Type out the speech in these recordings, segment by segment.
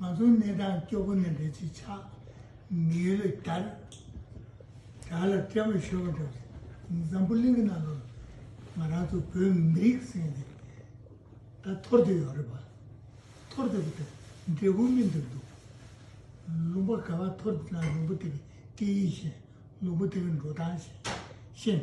ང་ཚོའི་གནས་སྟངས་སྐྱོ་པོ་ནི་ལས་ཀྱི་ཆ་མི་ཡོད་ལས་དར་དྲག་ལ་སྐྲ་མི་ཤོར་བ་འདྲ་རེད། འཛམ་བུ་གླིང་གི་ནང་དུ་ང་རང་ཚོ་བོད་མི་རིགས་ཟེར་མཁན་དེ་ད་ཐོར་དུ་ཡོད་རེད་པ། ཐོར་དུ་ཡོད་དུས་འབྲས་བུ་སྨིན་དུ་འདུག་ལུང་པ་ག་བ་ཐོར་དུ་ན་ལུང་པ་དེ་གི་སྐད་ཡིག་གཞན་ལུང་པ་དེ་གི་འགྲོ་སྟངས་གཞན།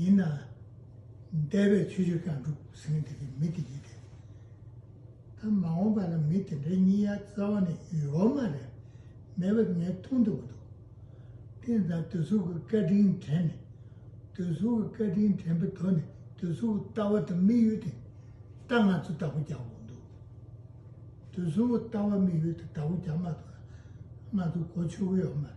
ཡིན་ན། འདས་པའི་ཆོས་ཕྱོགས་ཀྱང་འགྲུབ་ཟིན་དེ་གའི་མི་དེ་ཡིན་ཏེ། ད་མ་འོངས་པ་ལ་མི་དེ་འདྲའི་གཉིས་ཡ་རྩ་བ་ནས་ཡོད་མ་རེད། མེད་པ་ངས་མཐོང་ཐུབ་པ་འདུག། དེ་ད་དོལ་ཚོགས་ཀྱི་བཀའ་དྲིན་དྲན་ནས། དོལ་ཚོགས་ཀྱི་བཀའ་དྲིན་དྲན་པའི་དོན་ནི་དོལ་ཚོགས་ཀྱི་ལྟ་བ་དང་དམིགས་ཡུལ་དེ་ལྟ་ང་ཚོས་བདག་པོ་རྒྱག་དགོས་འདུག། དོལ་ཚོགས་ཀྱི་ལྟ་བ་དམིགས་ཡུལ་དེ་བདག་པོ་རྒྱག་མ་ཐུབ་ན། ང་ཚོ་གོ་ཆོད་གི་ཡོད་མ་རེད།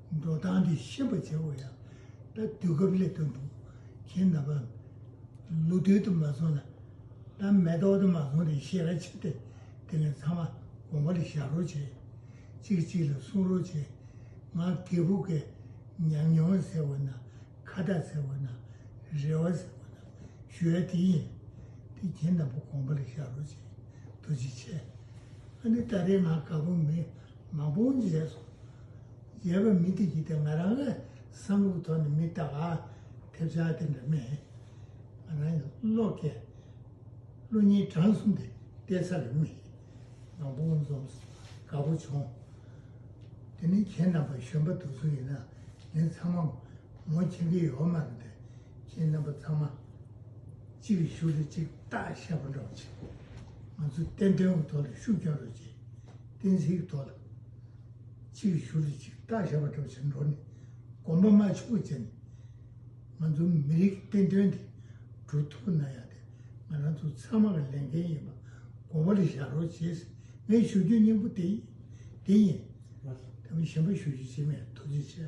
འགྲོ་སྟངས་འདི་ཤེས་པར་བྱ་དགོས་ཡང་ད་དུས་སྐབས་སླེབས་དོན་འདུག་གཞན་ན་བ། ལུགས་མཐུན་དུ་མ་སོང་ན། ད་མེ་ཏོག་དུ་མ་སོང་རེ་ཤེས་ར་ཆེ་སྟེ་དེ་ལས་ཚང་མ་དགོངས་པ་ལ་བཞག་རོགས་བྱས། གཅིག་གཅིག་ལ་གསུང་རོགས་བྱས། ང་རྒད་བུ་འགས་ཉམས་མྱོང་ཟེར་བ་ན་ཁ་བརྡ་ཟེར་བ་ན་རེ་བ་ཟེར་བ་ན་ཞུ་ཡ་དེ་ཡིན། དེ་གྱེན་ན་བ་དགོངས་པ་ལ་བཞག་རོགས་བྱས། དུ་ཅི་བྱས། ཨ་ནི་ད་རེས་ང་དགའ་པོ་མེད། མང་པོ་མཛད་སོང། མཛད་པ་མི་དེ་གྱིས་ང་རང་ལ་བསམ་བློ་གི་ཐོག་ནས་མི་བལྟ་བར་ཐེབས་ཆག་དེ་འདྲ་མེད། ང་རང་གི་བློ་སྐད། བློ་སྙན་གྲངས་གསུམ་དེ་བལྟས་ཚར་རེ་མེད། མང་པོ་འཛོམས་སོང་དགའ་པོ་བྱུང། དེ་ནི་ཁྱེད་རྣམ་པ་གཞོན་པ་དུ་ཚོད་ཡིན་ན་ངས་ཚང་མ་ངོ་མཁྱེན་གྱི་ཡོད་མ་རེད། ཁྱེད་རྣམ་པ་ཚང་མ་གཅིག་རེ་ཞུ་རེ་གཅིག་བལྟ་ཤ་པོ་འདྲ་བོ་བྱེད། ང་ཚོས་བསྟན་དོན་གྱི་ཐོག་ལ་ཤུགས་རྒྱོན་རོགས་གྱིས། གཏན་ཚིགས་ཐོག་ལ་གཅིག་བཞུགས་རིས་གཅིག་བརྟག་བྱ་བ་གྲུབ་ཕྱིར་འགྲོ་ནས་གོམ་པ་མ་ཕྱུག་པོ་བཙལ་ནས། ང་ཚོ་མི་རིགས་བསྟན་དོན་དེ་སྒྲུབ་ཐུབ་ན་ཡག་དེ་ང་རང་ཚོ་ཚང་མ་གི་ལས་འགན་ཡིན་པ་གོ་བར་བཞག་རོགས་བྱེད་ཟེར་ངས་ཞུ་རྒྱུའི་སྙིང་པོ་དེ་དེ་ཡིན། ད་མི་གཞན་པ་ཞུ་རྒྱུ་བྱེད་མེད་ཐུགས་རྗེ་ཆེ།